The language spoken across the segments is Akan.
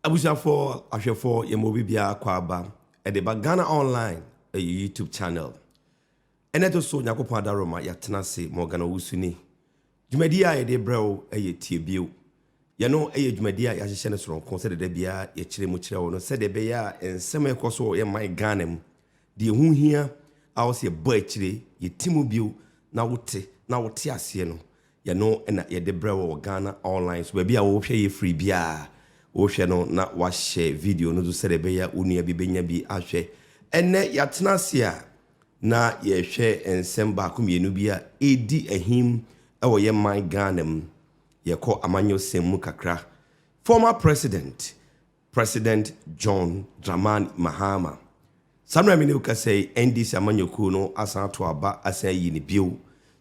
Abusuafoɔ, ahwɛfoɔ, yɛma obi biara kɔ aba ɛde ba Ghana Online ɛyɛ YouTube channel. Ɛna ɛto so Nyankopɔn Adaroma yɛatena ase Morgan Owusu ni. Dwumadie a yɛde brɛ wo ɛyɛ Tie Bio. Yɛno ɛyɛ dwumadie a yɛahyehyɛ no sononko sɛdeɛ da biara yɛkyerɛ mu kyerɛ wo no sɛdeɛ ɛbɛyɛ a nsɛm a ɛkɔ so wɔ yɛn man Ghana mu, deɛ ɛho hia a ɛwɔ sɛ yɛbɔ akyire, yɛti mu bio na wote na wote aseɛ no Yɛno na yɛde brɛ wo wɔ Ghana Online so. Baabi a wohwɛ yɛ firi biara, wohwɛ no na woahyɛ video no nso sɛdeɛ ɛbɛyɛ a wo nua bi bɛnya bi ahwɛ. Ɛnnɛ yɛatena ase a na yɛrehwɛ nsɛm baako mmienu bi a ɛredi ahim wɔ yɛn man Ghana mu. Yɛkɔ amanyɔsɛm mu kakra. Former President President John Dramani Mahama. Saa mmerɛ mmienu rekasa yi, NDC amanyɔkuo no asan ato aba asan ayi no bio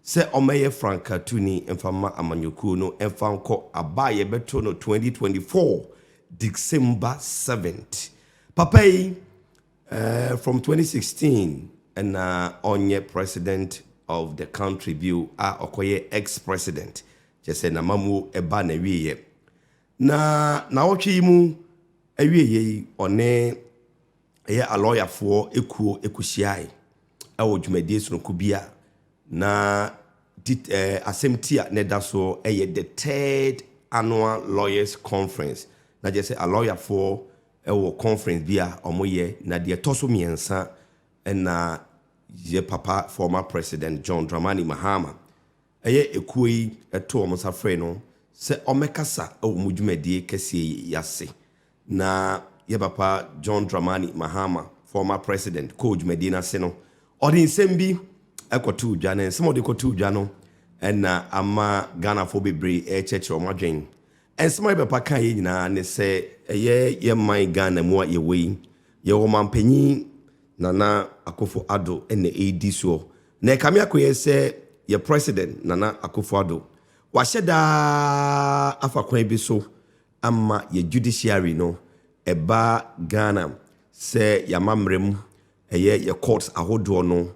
sɛ ɔmmɛyɛ frankatuni mfa mma amanyɔkuo no mfa nkɔ aba a yɛbɛto no 2024 December 7th. Papa yi, eh, from 2016 ɛna ɔnyɛ president of the country bio a ɔkɔyɛ ex-president, kyerɛ sɛ n'amamuo ɛba n'awieɛ. Na naawɔtwe yi mu awieɛ yi ɔne ɛyɛ alɔyafoɔ ekuo kɔhyiae wɔ dwumadie sononko bi a na tit ɛɛ asɛm ti a na ɛda so yɛ the third annual lawyers conference na kyerɛ sɛ alɔyafoɔ wɔ conference bi a wɔyɛ na deɛ ɛtɔ so mmiɛnsa na yɛ papa former president John Dramani Mahama Ɛyɛ ekuo yi ɛto wɔn nsa frɛɛ no sɛ ɔmɛkasa wɔ wɔn dwumadie kɛseɛ yi ase na yɛ papa John Dramani Mahama, former president, kɔɔ dwumadie no ase no, ɔde nsɛm bi kɔtoo dwa na nsɛm a ɔde kɔtoo dwa no na ama Ghanafoɔ bebree ɛrekyerɛkyerɛ wɔn adwen. Nsɛm a yɛ papa kaeɛ nyinaa ne sɛ ɛyɛ yɛ man Ghana mu a yɛwɔ yi, yɛwɔ ɔmanpanin Nana Akufo-Addo na ɛredi soɔ Na ɛkame ako yɛn sɛ yɛn President Nana Akufo-Addo, wahyɛ da ara afa kwan bi so ama yɛn Judiciary no, ɛba Ghana sɛ yɛn amammerɛ mu, ɛyɛ yɛn Courts ahodoɔ no,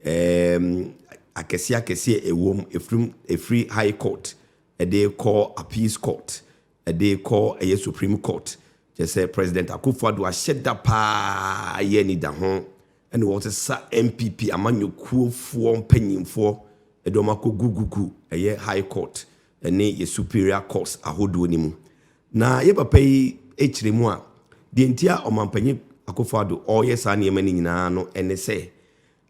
ɛɛm, akɛseɛ akɛseɛ a ɛwɔ mu, ɛfiri, ɛfiri High Court de rekɔ Appeals Court, ɛde kɔ ɛyɛ Supreme Court, kyerɛ sɛ President Akufo-Addo ahyɛ da paa yɛ anidaho ne wɔn sesa NPP amanyɔkuofoɔ mpanyinfoɔ de wɔn akɔ gu gu gu ɛyɛ High Court ne yɛ Superior Courts ahodoɔ no mu. Na yɛ papa yi kyerɛ mu a, deɛ nti a Ɔmanpanyin Akufo-Addo ɔreyɛ saa nneɛma no nyinaa no ne sɛ,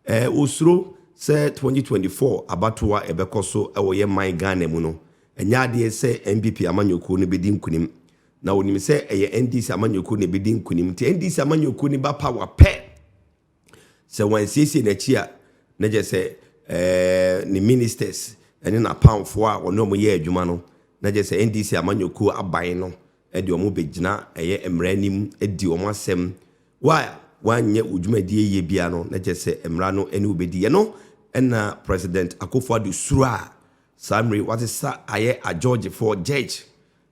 Ɛɛ osuro sɛ 2024 abatoɔ a ɛbɛkɔ so wɔ yɛn man Ghana mu no ɛnyɛ adeɛ sɛ NPP amanyɔkuo no bɛdi nkunim. Na ɔnim sɛ ɛyɛ NDC amanyɔkuo na ɛbɛdi nkunim. Nti NDC amanyɔkuo no ba power pɛ, sɛ wɔansiesie n'akyi a, na kyerɛ sɛ ɛɛ ne ministers ne n'apamfoɔ a ɔne wɔn yɛ adwuma no, na kyerɛ sɛ NDC amanyɔkuo aban no de wɔn bɛgyina ɛyɛ mmara anim adi wɔn asɛm. Wo a woanyɛ wo dwumadie yie biara no, na kyerɛ sɛ mmara no ne wo bɛdi. Ɛno na President Akufo Addo suro a saa mmerɛ yi wasesa ayɛ agyɔɔgyefoɔ, judge,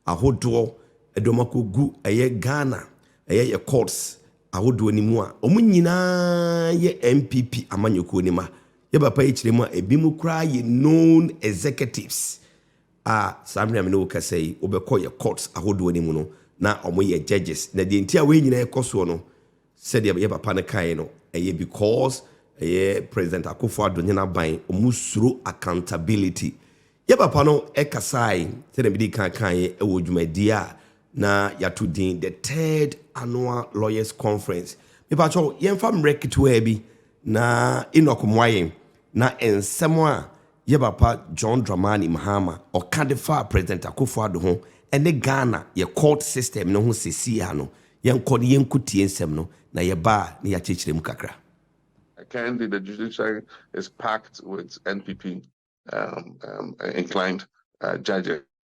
ahodoɔ de wɔn akɔgu ɛyɛ Ghana ɛyɛ yɛ courts ahodoɔ no mu a wɔn nyina ara yɛ NPP amanyɔkuo no mma. Yɛ papa yi kyerɛ mu a, ebinom koraa yɛ known executives a saa mmere a me ne wo kasa yi wobɛkɔ yɛ courts ahodoɔ no mu no na ɔmo yɛ judges na deɛ nti a wei nyinaa ɛkɔ soɔ no sɛdeɛ yɛ papa no kaeɛ no ɛyɛ because ɛyɛ President Akuffo Addo ne n'aban ɔmo suro accountability yɛ papa no ɛkasae sɛdeɛ mede kan kaeɛ ɛwɔ dwumadie a na yɛato din the third annual lawyers conference mepakyɛw yɛmfa mmerɛ ketewaa bi na Enoch mmoa yɛn na nsɛm a Yɛ papa John Dramani Mahama ɔka de faa President Akuffo Addo ho ne Ghana yɛ court system no ho sesii ha no, yɛnkɔ na yɛnko tie nsɛm no, na yɛ ba a na yɛakyerekyerɛ mu kakra. I can't be the judiciary is packed with NPP inclined judges.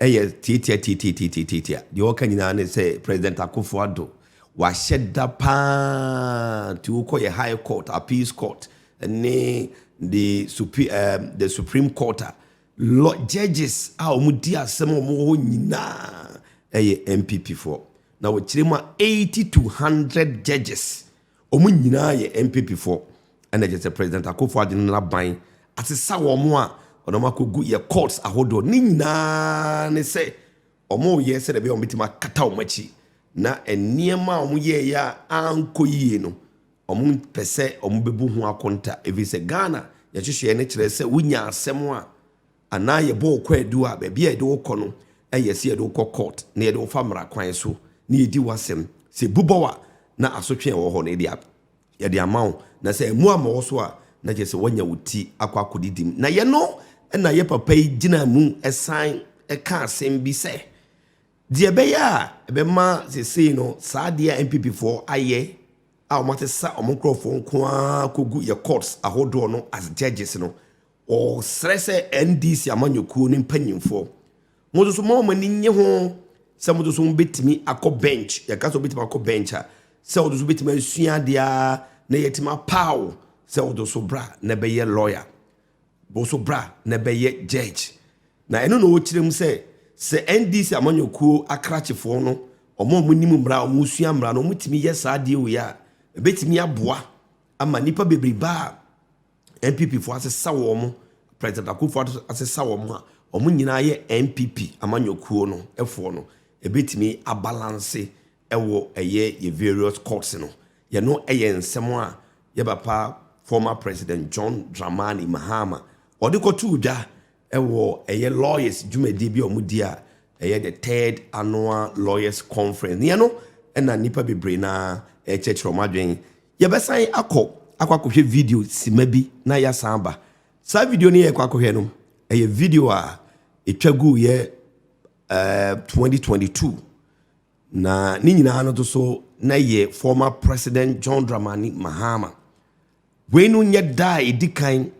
Ɛyɛ tiatia tiatia tiatia tiatia. Deɛ wɔka nyinaa ne sɛ President Akufo Addo wahyɛ da paa nti wokɔ yɛ High Court, Appeals Court ne the supreme ɛɛ eh, the Supreme Court a lɔ judges a wɔn di asɛm a wɔn wɔ hɔ nyinaa ɛyɛ NPP foɔ na wɔkyerɛ mu a eighty to hundred judges Wɔn nyinaa yɛ NPP foɔ ɛna ɛkyerɛ sɛ President Akuffo Addo no n'aban asesa wɔn a wɔde wɔn akɔgu yɛ courts ahodoɔ ne nyinaa ne sɛ wɔreyɛ sɛdeɛ ɛbɛyɛ a wɔbɛtumi akata wɔn akyi na nneɛma a wɔyɛeɛ a ankɔ yie no wɔmpɛ sɛ wɔbɛbu ho akonta ɛfiri sɛ Ghana yɛhyehyɛeɛ no kyerɛ sɛ wonya asɛm a Anaa yɛbɔ wo kwaadu a, baabi a yɛde wo kɔ no yɛ sɛ yɛde wo kɔ court na yɛde wo fa mmara kwan so na yɛdi w'asɛm. Sɛ ebu bɔ wo a, na asotwe a ɛwɔ hɔ no yɛde yɛde ama wo. Na sɛ ammu ammɔ wo so a, na kyerɛ sɛ woanya wo ti akɔ akɔdidi mu. Na yɛno na yɛ papa yi gyinaa mu san kaa asɛm bi sɛ, deɛ ɛbɛyɛ a ɛbɛma sesei no saa adeɛ a NPP foɔ ayɛ a wɔasesa wɔn nkorɔfoɔ nko ara kɔgu yɛ courts ahodoɔ no as judges no, Wɔsrɛ sɛ NDC amanyɔkuo no mpanyinfoɔ, mo nso moma wɔn ani nnye ho sɛ mo nso mobɛtumi akɔ bench, yɛka sɛ wobɛtumi akɔ bench a, sɛ wo nso wobɛtumi asua adeɛ ara na yɛatumi apaw wo sɛ wo nso bra na ɛbɛyɛ lawyer, wo nso bra na ɛbɛyɛ judge. Na ɛno na ɔkyerɛ mu sɛ, sɛ NDC amanyɔkuo akrakyefoɔ no, wɔn a wɔnim mmara, wɔsua mmara no, wɔtumi yɛ saa adeɛ wei a, ɛbɛtumi aboa ama nnipa bebrebe a NPP foɔ asesa wɔn mo, President Akuffo Addo asesa wɔn mo a, wɔn nyinaa yɛ NPP amanyɔkuo no foɔ no, ɛbɛtumi abalanse ɛwɔ ɛyɛ yɛ various courts no. Yɛno ɛyɛ nsɛm a yɛ papa former President John Dramani Mahama ɔde kɔtoo dwa ɛwɔ ɛyɛ lawyers dwumadie bi a wɔn di a ɛyɛ the third annual lawyers conference. Neɛ no ɛna nnipa bebree naa ɛkyɛkyerɛ wɔn adwene Yɛbɛsan akɔ akɔ akɔhwɛ video simma bi na yɛasan aba. Saa video no yɛrekɔ akɔhwɛ no, ɛyɛ video a ɛtwa guiɛ eh, 2022. Na ne nyinaa no nso na yɛ former president John Dramani Mahama. Wei no nyɛ da a ɛdi kan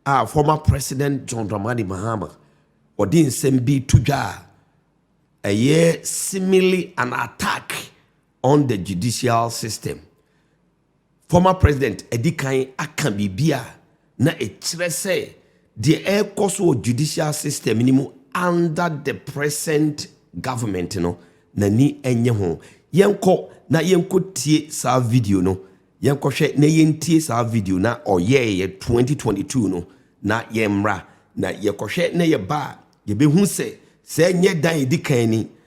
a former president John Dramani Mahama ɔde nsɛm bi to dwa a ɛyɛ simile an attack on the judicial system, former president adi kan aka biribi a na ɛkyerɛ sɛ deɛ ɛrekɔ so wɔ judicial system no mu under the present government no, n'ani nnye ho. Yɛnkɔ na yɛnkɔtie saa video no. Yɛnkɔhwɛ na yɛntie saa video na ɔyɛeɛ 2022 no na yɛmmra. Na yɛkɔhwɛ na yɛba a, yɛbɛhu sɛ sɛ nyɛ dan ɛdi kan ni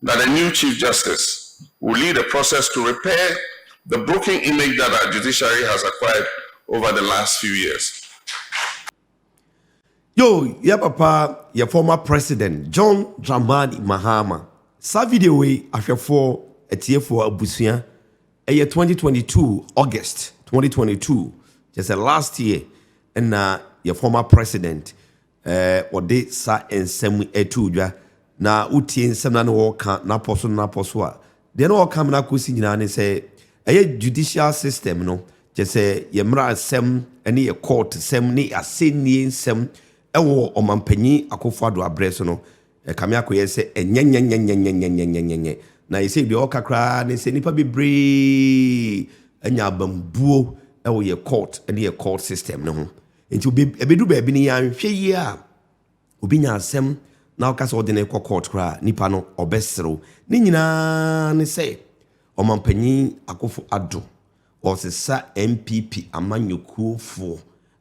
Na the new Chief Justice will lead a process to repair the broken image that our judiciary has acquired over the last few years. Yoo yɛ papa yɛ former president John Dramani Mahama saa video wei ahwɛfoɔ atiefoɔ abusua ɛyɛ 2022 August 2022 kyerɛ sɛ last year ɛna yɛ former president Ɛɛ, wɔde saa nsɛm yi too dwa, na wotie nsɛm no a na wɔreka no apɔ so no apɔ so a, deɛ na wɔreka mena kɔsi nyinaa ne sɛ, ɛyɛ judicial system no, kyerɛ sɛ yɛn mmaransɛm ne yɛn kɔɔtosɛm ne asɛnnie nsɛm wɔ Ɔmanpanyin Akufo-Addo aberɛ so no, ɛkame akɔyɛ sɛ ɛnyɛnyɛnyɛnyɛnyɛnyɛnyɛnyɛnyɛ. Na seisei deɛ wɔreka koraa ne sɛ nnipa bebree anya abambuo wɔ yɛn kɔɔt ne yɛn kɔɔt system no ho. Nti obi ɛbɛdu baabi no yɛanhwɛ yie a obi nya asɛm na ɔka sɛ ɔde no rekɔ court koraa a, nipa no ɔbɛserew. Ne nyinaa ne sɛ Ɔmanpanyin Akufo Addo ɔresesa NPP amanyɔkuofoɔ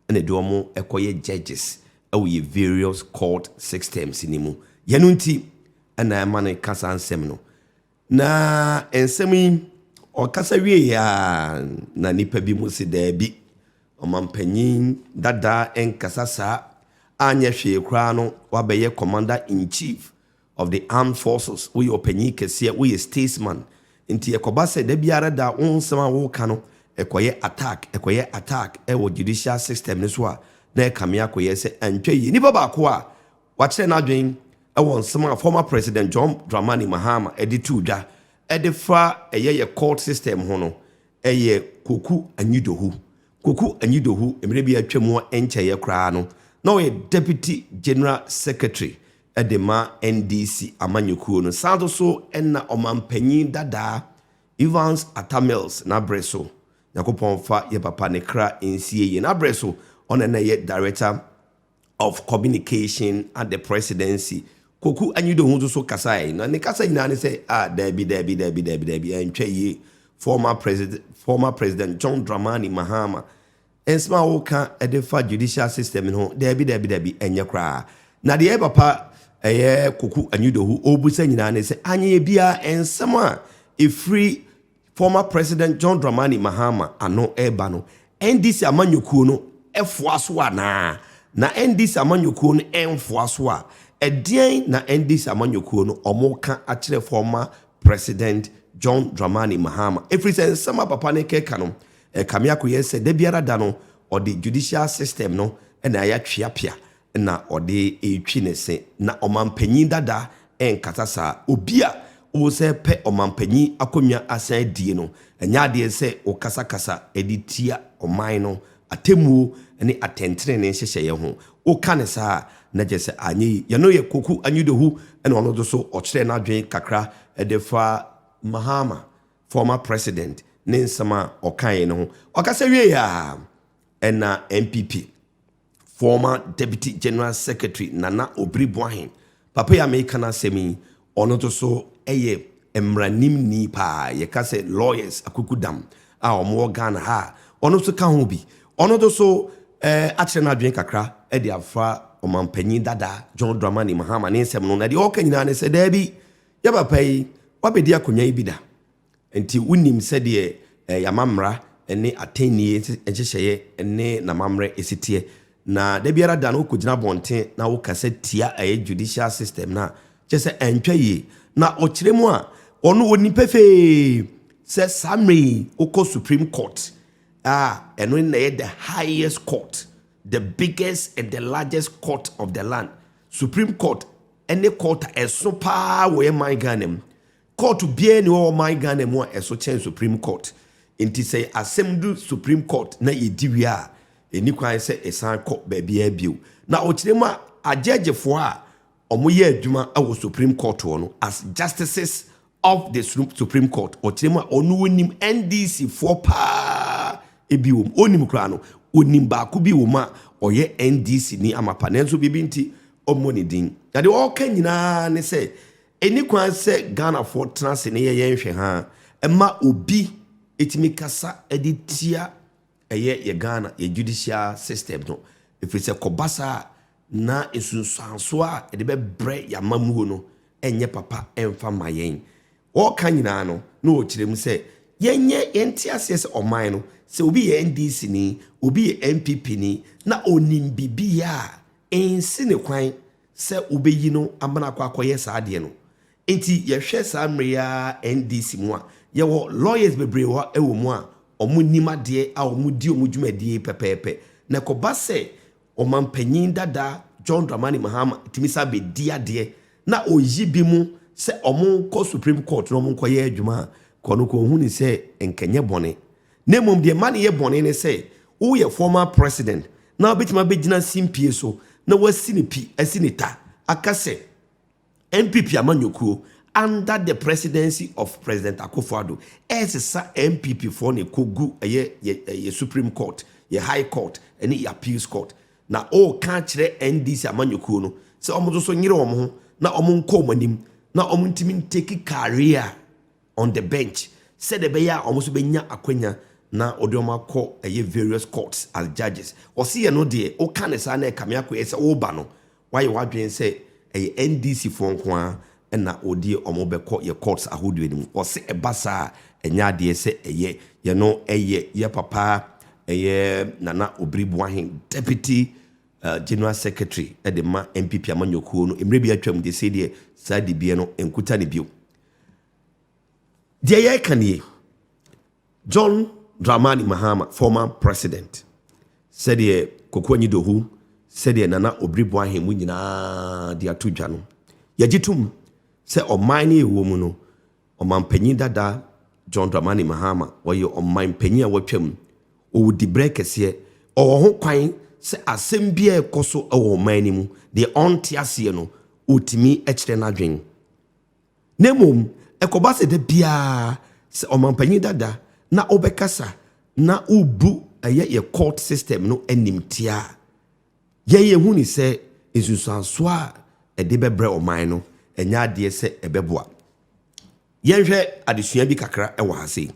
na ɛde wɔn rekɔyɛ judges wɔ yɛn various court systems no mu. Yɛ no nti na ɛma no reka saa nsɛm no. Na nsɛm yi, ɔkasa wieeɛ ara na nnipa bi mu se daabi, ɔmampanyin dada nkasa saa, anyɛ hwee koraa no wabɛyɛ commander in chief of the armed forces, woyɛ ɔpanyin kɛseɛ, woyɛ statesman, nti ɛkɔba sɛ da biara da wo nsɛm a woka no ɛkɔyɛ attack, ɛkɔyɛ attack wɔ judicial system no so a, na ɛkame akɔyɛ sɛ antwa yie. Nipa baako a Wakyerɛ n'adwene wɔ nsɛm a former President John Dramani Mahama de too dwa de fa ɛyɛ yɛ court system ho no, ɛyɛ Koku Anyi-Dohu. Koku Anyi-Dohu, mmerɛ bi a atwam a ɛnkyɛeɛ koraa no, na ɔyɛ Deputy General Secretary de ma NDC amanyɔkuo no, san nso so na ɔmanpanin dadaa Evans Atta Mills n'aberɛ so. Nyankopɔn mfa yɛn papa ne kra nsie yie. N'aberɛ so, ɔno na na ɛyɛ Director of Communication at the Presidency, Kwoku Anyidoho nso so kasae, na ne kasa nyinaa ne sɛ, Ah, daabi, daabi, daabi, daabi, daabi, ɛntwa yie. Former President, former President John Dramani Mahama, nsɛm a woka de fa judicial system no ho, daabi, daabi, daabi, ɛnyɛ koraa. Na deɛ papa ɛyɛ Kwoku Anyidoho ɔrebisa nyinaa ne sɛ, anyɛ biara nsɛm a ɛfiri Former President John Dramani Mahama ano reba no, NDC amanyɔkuo no foa so anaa? Na NDC amanyɔkuo no mfoa so a, ɛdeɛn na NDC amanyɔkuo no wɔreka akyerɛ Former President John Dramani Mahama? Ɛfiri sɛ nsɛm a papa no rekeka no, ɛkame akɔyɛ sɛ da biara da no, ɔde judicial system no na ayɛ tweapea na ɔde retwi ne se. Na ɔmampanyin dada nkasa saa. Obi a wosɛ pɛ ɔmampanyin akonnwa asan adie no, ɛnyɛ adeɛ sɛ wokasakasa de tia ɔman no atemmuo ne atɛntenenee nhyehyɛeɛ ho. Woka no saa a, na kyerɛ sɛ anyɛ yi. Yɛ no yɛ Kwoku Anyidohu na ɔno nso so ɔkyerɛɛ n'adwene kakra de fa Mahama, former president, ne nsɛm a ɔkaeɛ no ho. Ɔkasa wieeɛ a, ɛna NPP Former Deputy General Secretary Nana Obiri Boahen, papa yi a meka n'asɛm yi, ɔno nso so yɛ mmaranimni paa, yɛka sɛ lawyers akukudam a wɔwɔ Ghana ha a, ɔno nso ka ho bi. Ɔno nso so eh, akyerɛ n'adwene kakra de afa ɔmampanyin dada John Dramani Mahama ne nsɛm no, na deɛ ɔka nyinaa ne sɛ daabi, yɛ papa yi, wabɛdi akonnwa yi bi da, Enti wonim sɛdeɛ eh, ama mmara ne atɛnnie nhyehyɛeɛ ne n'amammerɛ ɛsi teɛ. Na da biara da no wokɔgyina abɔnten na wokasa tia ɛyɛ judicial system no a, kyerɛ sɛ antwa yie. Na ɔkyerɛ mu a, ɔno ɔnim pefee sɛ saa mmerɛ yi wokɔ Supreme Court a, ɛno na ɛyɛ the highest court, the biggest and the largest court of the land. Supreme Court ɛne court a ɛso paa wɔ yɛ man Ghana mu. Court biara nni hɔ wɔ ɔman Ghana mu a ɛso kyɛn Supreme Court. Nti sɛ asɛm du Supreme Court na yɛdi wie a, ɛnni kwan sɛ ɛsan kɔ baabiara bio. Na ɔkyerɛ mu a, agyɛɛgyefoɔ a wɔyɛ adwuma wɔ Supreme Court hɔ no, as Justices of the Supreme Court, ɔkyerɛ mu a, wɔn no wɔnim NDC foɔ paa bi wɔ mu. Wɔnim koraa no, wɔnim baako bi wɔ mu a ɔyɛ NDC ni amapa, nanso biribi nti wɔmmɔ ne din. Na deɛ ɔreka nyinaa ne sɛ, Ɛnni kwan sɛ Ghanafoɔ tena ase ne yɛyɛ nhwɛhaa ma obi tumi kasa de tia ɛyɛ yɛ Ghana yɛ judicial system no ɛfiri sɛ kɔba saa a na nsunsuansoɔ a ɛde bɛbrɛ yɛ amammuo no nyɛ papa mfa mma yɛn. Ɔreka nyinaa no na ɔrekyerɛ mu sɛ yɛnyɛ yɛnte aseɛ sɛ ɔman no sɛ obi yɛ NDC ni, obi yɛ NPP ni na ɔnim biribiara nsi ne kwan. sɛ wobɛyi no ama no akɔ akɔyɛ saa adeɛ no. Nti yɛhwɛ saa mmerɛ yi ara NDC mu a, yɛwɔ lawyers bebree wɔ wɔ mu a wɔnim adeɛ a wɔdi wɔn dwumadie pɛpɛɛpɛ. Na ɛkɔba sɛ ɔmanpanin dada John Dramani Mahama tumi san bɛdi adeɛ na ɔyi bi mo sɛ wɔnkɔ Supreme Court na wɔnkɔyɛ adwuma a, Kwanuku ɔhunu sɛ nka ɛnyɛ bɔne. Na mmom deɛ ɛma no yɛ bɔne ne sɛ, woyɛ former president na wobɛtumi abɛgyina simpie so na woasi ne pi, asi ne ta, aka sɛ NPP amanyɔkuo under the presidency of President Akufo-Addo ɛresesa NPP foɔ na ɛkɔgu ɛyɛ yɛ Supreme Court, yɛ High Court ɛne yɛ Appeals Court. Na woreka akyerɛ NDC amanyɔkuo no sɛ wɔn nso so nyere wɔn ho na wɔn nkɔ wɔn anim na wɔn ntumi ntake career on the bench sɛdeɛ ɛbɛyɛ a wɔn nso bɛnya akwanya na wɔde wɔn akɔ ɛyɛ various courts as judges wɔsi yɛ no deɛ woka ne saa na ɛkame akɔyɛ sɛ woba no wayɛ wadwene sɛ ɛyɛ ndc foɔ nko ara ɛna wɔdeɛ wɔn bɛkɔ yɛ courts ahodoɔ no mu wɔsi ɛba saa a ɛnyɛ adeɛ sɛ ɛyɛ yɛ no ɛyɛ yɛ papa ɛyɛ nana obiri boahen deputy uh, general secretary ɛde ma npp amanyɔkuo no mmerɛ bi atwam de sɛ deɛ saa dibeɛ no nkuta ne bio Deɛ yɛreka nie, John Dramani Mahama, former president, sɛdeɛ Koko Anyi-Dohu, sɛdeɛ Nana Obiri Boahe mo nyinaa de ato dwa no, yɛgye tom sɛ ɔman no yɛwɔ mu no, ɔmanpanyin dada John Dramani Mahama, ɔyɛ ɔmanpanyin a watwam, ɔwɔ diberɛ kɛseɛ, ɔwɔ ho kwan sɛ asɛm biara ɛkɔ so wɔ ɔman no mu, deɛ ɔnte aseɛ no, ɔtumi kyerɛ n'adwene. Na mmom ɛkɔba sɛ da biara sɛ ɔmampanyin dada na ɔbɛkasa na wobu ɛyɛ yɛ court system no animtia a, yɛn yɛhu ne sɛ nsunsuansoɔ a ɛde bɛbrɛ ɔman no, ɛnyɛ adeɛ sɛ ɛbɛboa. Yɛnhwɛ adesua bi kakra wɔ ha sei.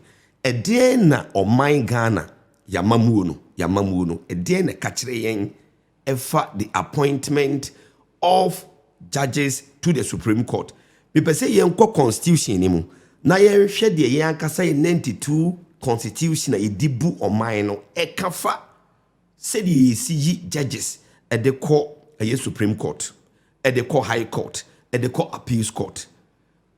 Ɛdeɛn na ɔman Ghana, yɛn amammuo no, yɛn amammuo no, ɛdeɛn na ɛka kyerɛ yɛn ɛfa the appointment of judges to the supreme court. Mepɛ sɛ yɛn kɔ constitution no mu na yɛn hwɛ deɛ yɛn ankasa yɛ 92 constitution a yɛdi bu ɔman no ɛka fa sɛdeɛ yɛsi yi judges ɛde kɔ ɛyɛ supreme court ɛde kɔ high court ɛde kɔ appeals court.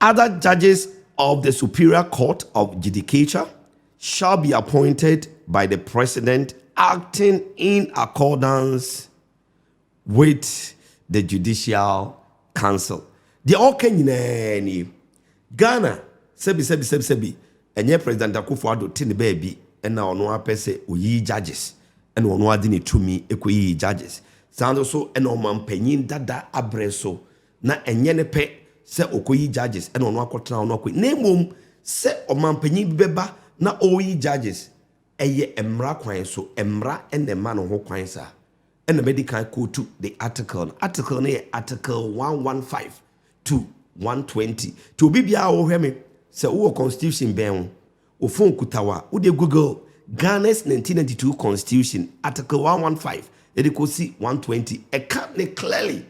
Other judges of the Superior Court of Judicature shall be appointed by the President acting in accordance with the Judicial Council. Deɛ ɔka nyinaa nie. Ghana sɛbi sɛbi sɛbi sɛbi ɛnyɛ President Akufo Addo te ne baabi ɛna ɔno apɛ sɛ oyi judges ɛna ɔno ade ne tumi ɛkɔyi judges. Saa nso so ɛna ɔmampanyin dada abrɛ so na ɛnyɛ ne pɛ sɛ ɔkɔyi judges na ɔno akɔtena hɔ na wakɔ na mmom sɛ ɔmanpanyin bi bɛba na ɔreyi judges ɛyɛ mmara kwan so mmara na ɛma no ho kwan saa ɛna madi kan kootu the article no article no yɛ article 115 to 120 nti obi biara a wɔhwɛ me sɛ wowɔ constitution bɛn ho wo phone kuta wo a wode google Ghana's 1992 constitution article 115 ɛde kɔsi 120 ɛka ne clearly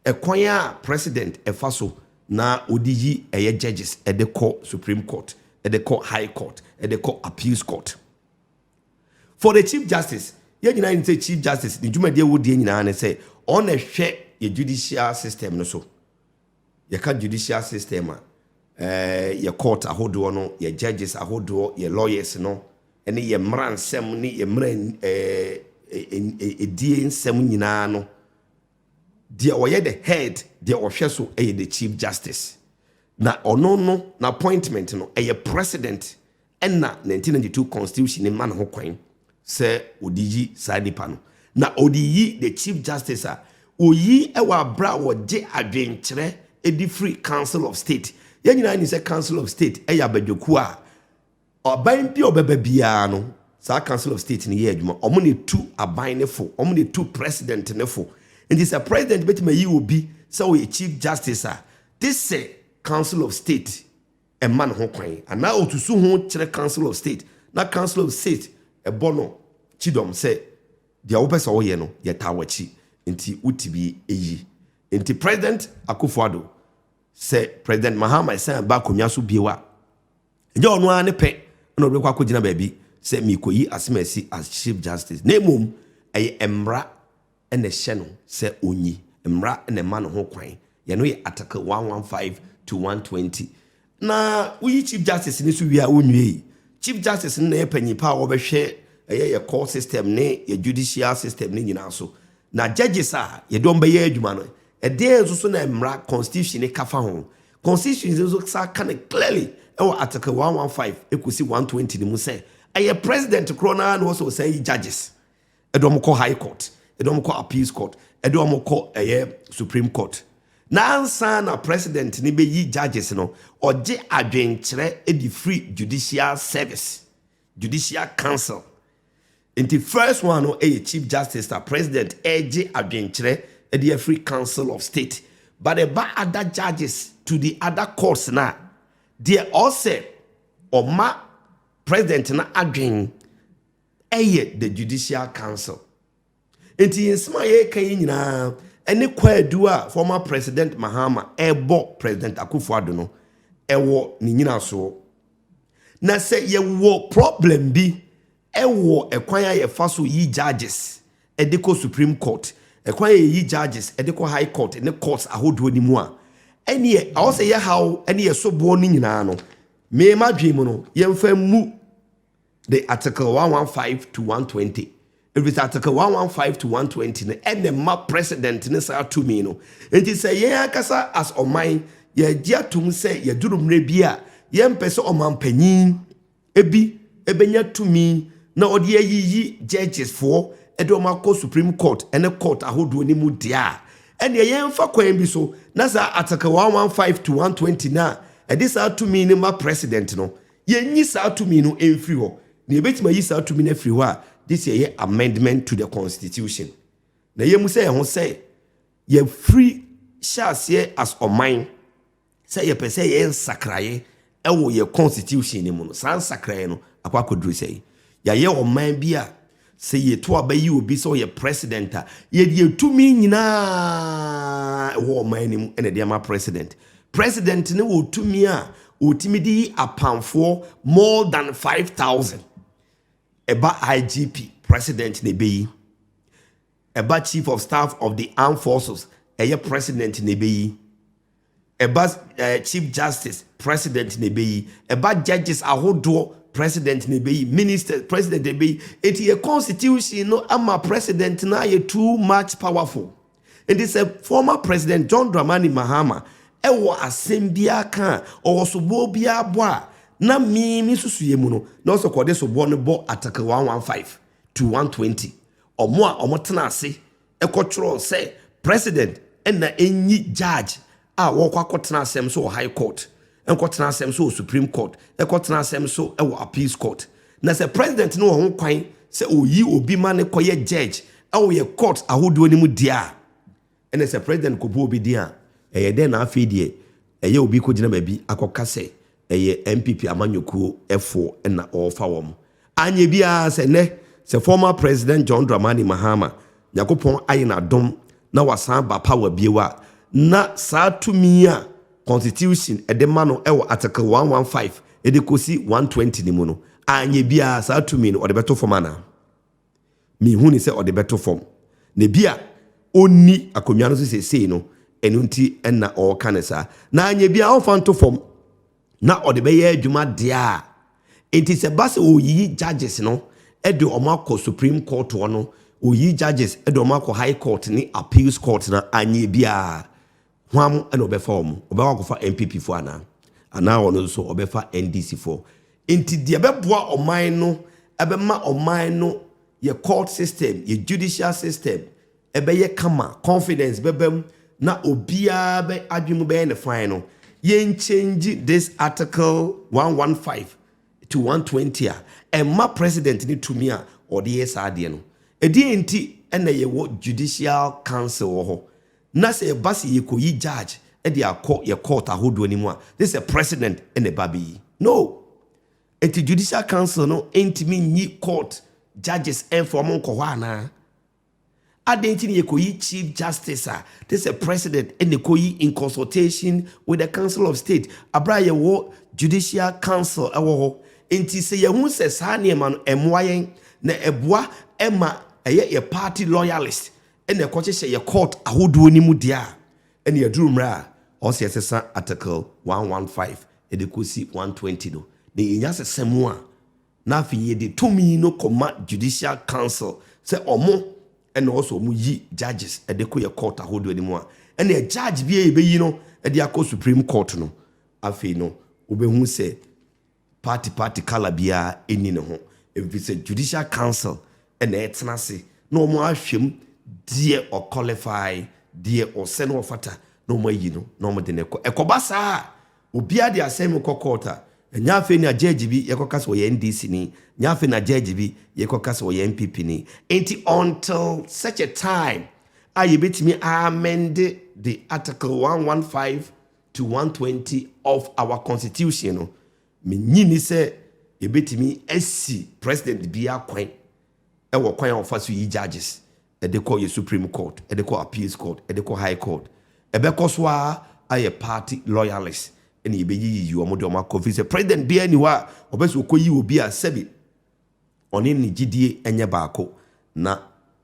Ɛkwan a president fa so na ɔde yi ɛyɛ judges de kɔ supreme court, de kɔ high court, de kɔ appeals court. For the chief justice, yɛn nyinaa nim sɛ chief justice ne dwumadi a wɔdie nyinaa ne sɛ ɔn na ɛhwɛ yɛ judicial system no so. Yɛka judicial system a, eh, yɛ court ahodoɔ no, yɛ judges ahodoɔ, yɛ lawyers no, ne yɛ mmara nsɛm ne yɛ mmara eh, eh, eh, edie nsɛm nyinaa no deɛ ɔyɛ the head deɛ ɔhwɛ so yɛ the chief justice na ɔno no na appointment no ɛyɛ president ɛna 1992 constitution ne ma ne ho kwan sɛ ɔde yi saa nipa no na ɔde yi the chief justice a ɔyi ɛwɔ abere a wɔgye adwenkyerɛ ɛdi firi council of state yɛn nyinaa ni sɛ council of state ɛyɛ abadwakuo a Aban bi a ɔbɛba biara no, saa council of state no yɛ adwuma. Wɔn na etu aban no fo, wɔn na etu president no fo. Nti sɛ president betumi ayi obi sɛ ɔyɛ chief justice a, gye sɛ council of state ma no ho kwan, anaa osusu ho kyerɛ council of state, na council of state bɔ no kyidɔm sɛ, Deɛ wopɛ sɛ woyɛ no, yɛtaa w'akyi, nti wotumi yi. Nti President Akufo-Addo, sɛ President Mahama san ba akonnwa so bio a, Ɛnyɛ ɔno ara ne pɛ na ɔde bɛkɔ akɔgyina baabi sɛ merekɔyi asɛm a ɛsi as chief justice na mmom ɛyɛ mmara na ɛhyɛ no sɛ ɔnyi mmara na ɛma no ho kwan yɛ no yɛ article 115 to 120 na woyi chief justice no so wie a wonwiei chief justice no na yɛ panyin pa a wɔbɛhwɛ ɛyɛ yɛ court system ne yɛ judicial system no nyinaa so na judges a yɛde wɔn bɛyɛ adwuma no ɛdeɛn nso so na mmara constitution ne kafa ho Constitution no nso san ka no clearly wɔ Article 115 kosi 120 no mu sɛ ɛyɛ President korɔ no ara na ɔsɛ ɔsan yi judges ɛde wɔn kɔ High Court, ɛde wɔn kɔ Appeals Court, ɛde wɔn kɔ ɛyɛ Supreme Court. Na ansa na President no bɛyi judges no, ɔgye adwenkyerɛ de firi Judicial Service. Judicial Council. Nti first one no yɛ Chief Justice na President regye adwenkyerɛ de afiri Council of State but ɛba other judges to the other courts no a, deɛ ɔsɛ ɔma President no adwen yɛ the Judicial Council. Enti yɛn nsɛm a yɛreka yi nyinaa ne kwaadu a former President Mahama rebɔ President Akufo-Addo no wɔ ne nyinasoɔ. Na sɛ yɛwɔ problem bi wɔ ɛkwan a yɛfa so yi judges de kɔ Supreme Court, ɛkwan a yɛyi judges de kɔ High Court ne courts ahodoɔ no mu a, ɛneɛ ɛwɔ sɛ yɛhaw ne yɛsoboɔ no nyinaa no, me m'adwene mu no, yɛmfa mmu de Article 115 to 120 ɛfiri sɛ Article 115 to 120 no ɛna ma president ne saa tumi no nti sɛ yɛn ankasa as ɔman yɛgye atom sɛ yɛduru mmerɛ bi a yɛmpɛ sɛ ɔmanpanyin ebi ɛbɛnya tumi na ɔde ayiyi judges foɔ ɛde ɔma kɔ supreme court ɛne court ahodoɔ no mu deɛ a ɛneɛ yɛmfa kwan bi so na saa article 115 to 120 no a ɛde saa tumi no ma president no Yɛnyi saa tumi no mfiri hɔ. Na yɛbɛtumi ayi saa tumi no afiri hɔ a, gye sɛ yɛyɛ amendment to the constitution. Na yɛmmu sɛ yɛn ho sɛ yɛfiri hyɛ aseɛ as ɔman sɛ yɛpɛ sɛ yɛyɛ nsakraeɛ ɛwɔ yɛn constitution no mu no, saa nsakraeɛ no akɔ akɔduru sɛn? Yɛayɛ ɔman bi a Sɛ yɛtu aba yi obi sɛ ɔyɛ president a, yɛde atumi nyinaa ɛwɔ ɔman no mu na ɛde ama president. President no wɔ tumi a ɔtumi de yi apamfoɔ more than 5,000. Ɛba IGP, president na ɛbɛyi. Ɛba chief of staff of the armed forces, ɛyɛ president na ɛbɛyi. Ɛba Chief Justice, President na ɛbɛyi. Ɛba Judges ahodoɔ, President na ɛbɛyi. Ministers, President na ɛbɛyi. Nti yɛ Constitution no ama President no ayɛ too much powerful. Nti sɛ former President John Dramani Mahama ɛwɔ asɛm biara ka a, ɔwɔ soboɔ biara bɔ a, na me me nsusuiɛ mu no, na ɔsɛ kɔde soboɔ no bɔ Article 115 to 120. Ɔmo a ɔmo tena ase Ɛkɔtwerɛɛ sɛ President na ɛnyi judge a wɔkɔ akɔtena asɛm so wɔ High Court, ɛnkɔtena asɛm so wɔ Supreme Court, ɛkɔtena asɛm so wɔ Appeals Court. Na sɛ President no wɔ ho kwan sɛ ɔyi obi ma no kɔyɛ judge wɔ yɛ courts ahodoɔ no mu deɛ a, ɛnna sɛ President kɔbu obi din a, ɛyɛ dɛn na afei deɛ ɛyɛ obi kɔgyina baabi akɔka sɛ ɛyɛ NPP amanyɔkuo foɔ na ɔrefa wɔn. Anyɛ biara sɛ nnɛ sɛ former President John Dramani Mahama Nyankopɔn ayɛ no adom na wasan ba power bio a, na saa tumi a Constitution de ma no wɔ Article 115 de kɔsi 120 no mu no, anyɛ biara saa tumi no ɔde bɛto fam anaa? Mihu no sɛ ɔde bɛto fam, na ebia onni akonnwa no so seesei no, ɛno nti na ɔreka no saa. Na anyɛ biara ɔmfa nto fam, na ɔde bɛyɛ adwuma deɛ a enti sɛ ɛba sɛ ɔreyiyi judges no de wɔn akɔ Supreme Court hɔ no, ɔreyiyi judges de wɔn akɔ High Court ne Appeals Court no a, anyɛ biara Hwan na ɔbɛfa wɔn? Ɔbɛkɔ akɔfa NPP foɔ anaa? Anaa ɔno nso ɔbɛfa NDC foɔ? Nti deɛ ɛbɛboa ɔman no, ɛbɛma ɔman no, yɛ court system, yɛ judicial system, ɛbɛyɛ kama, confidence bɛba mu, na obiara bɛ adwene mu bɛyɛ ne fine no, yɛn change this article 115 to 120 a, ɛmma president no tumi a ɔde yɛ saa adeɛ no. Ɛdeɛn nti na yɛwɔ judicial council wɔ hɔ? Na sɛ ɛba sɛ yɛkɔyi judge de akɔ yɛ court ahodoɔ no mu a, gye sɛ president na ɛba bɛyi no. Nti judicial council no ntumi nyi court judges mfa wɔn nkɔ hɔ anaa? Adɛn nti na yɛkɔyi chief justice a gye sɛ president na ɛkɔyi in consultation with the council of state berɛ a yɛwɔ judicial council wɔ hɔ? Nti sɛ yɛhu sɛ saa nneɛma no ɛmmoa yɛn na ɛboa ma ɛyɛ yɛ party loyalist na ɛkɔhyehyɛ yɛ court ahodoɔ no mu deɛ a, ɛne aduru mmerɛ a ɔsɛ yɛsesa article 115 de kɔsi 120 no, na yɛnya sesa mu a, na afei yɛde tumi no kɔma judicial council sɛ ɔmo na ɔsɛ ɔmo yi judges de kɔ yɛ court ahodoɔ no mu a, ɛne judge bi a yɛbɛyi no de akɔ supreme court no, afei no wobɛhu sɛ. Party party colour biara nni ne ho efisɛ Judicial Council na ɛtena ase na wɔn ahwɛ mu deɛ ɔ qualify, deɛ ɔsɛ na ɔfata na wɔn ayi no na wɔn de no kɔ. Ɛkɔba saa a, obiara de asɛm no kɔ court a, ɛnyɛ afei na judge bi yɛkɔka sɛ ɔyɛ NDC ni, ɛnyɛ afei na judge bi yɛkɔka sɛ ɔyɛ NPP ni. Enti until such a time a yɛbɛtumi a amend the article 115, to one twenty of our constitution no, minnye nni sɛ yebetumi asi president biara kwan wɔ kwan a wɔfa so yi judges de kɔ yɛn Supreme Court, de kɔ Appeals Court, de kɔ High Court. Ɛbɛkɔ so ara ayɛ party loyalists na yebeyiyiyi wɔn de wɔn akɔ, efiri sɛ president biara nni hɔ a ɔbɛ sɛ ɔkɔyi obi a sɛbi ɔne ne gyidie nyɛ baako, na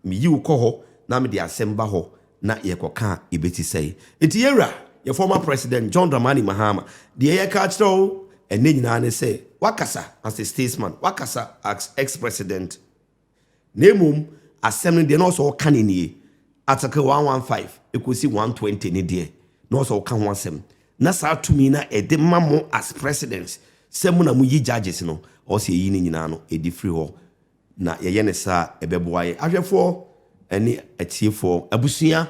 meyi wo kɔ hɔ na mede asɛm ba hɔ na yɛkɔka a ɛbɛsi sɛn? Nti yɛn wura, yɛn former president John Dramani Mahama, deɛ yɛka akyerɛ wo ɛnnɛ nyinaa ne sɛ, woakasa as a statesman, woakasa as ex-president, na mmom asɛm no deɛ na ɔsɛ ɔka no nie, Article 115 ɛkɔsi 120 no deɛ na ɔsɛ ɔka ho asɛm, Na saa tumi no a ɛde ma mo as presidents sɛ mo na mo yi judges no, ɔwɔ sɛ yɛyi ne nyinaa no ɛdi firi hɔ. Na yɛyɛ no saa a, ɛbɛboa yɛn. Ahwɛfoɔ ne atiefoɔ, abusua,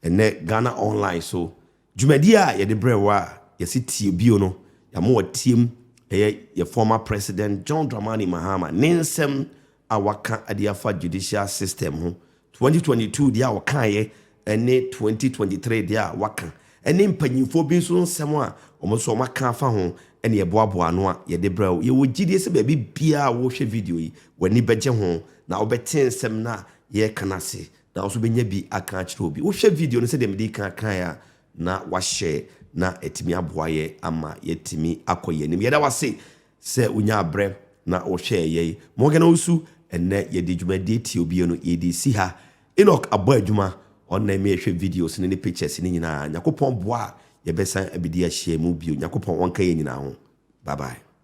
ɛnnɛ Ghana Online so dwumadie a yɛde brɛ wo a yɛse tie bio no, yɛama wo atiem, ɛyɛ yɛ former president John Dramani Mahama ne nsɛm a waka de afa judicial system ho 2022 deɛ a ɔkaeɛ ne 2023 deɛ a waka ne mpanyimfoɔ bi nso nsɛm a wɔn nso wɔaka afa ho ne ɛboaboa ano a yɛde brɛ wo. Yɛwɔ gyidie sɛ baabi biara a wohwɛ video yi, w'ani bɛgye ho na wobɛte nsɛm no a yɛreka no ase na wo nso wobɛnya bi aka akyerɛ obi. Wohwɛ video no sɛdeɛ mede kan kaeɛ a, na wahyɛ na atumi aboa yɛn ama yɛatumi akɔ yɛn anim. Yɛda wo ase Sɛ wonyaa berɛ na wɔhwɛɛ yɛn Morgan Owusu Ɛnnɛ yɛde dwumadie tiew bio no yɛde si ha Enoch abɔ adwuma ɔnna me hwɛ videos no ne pictures no nyinaa Nyakopɔn boa a yɛbɛsan abɛdi ahyiamu bio Nyakopɔn ɔnka yɛn nyinaa ho Bye bye.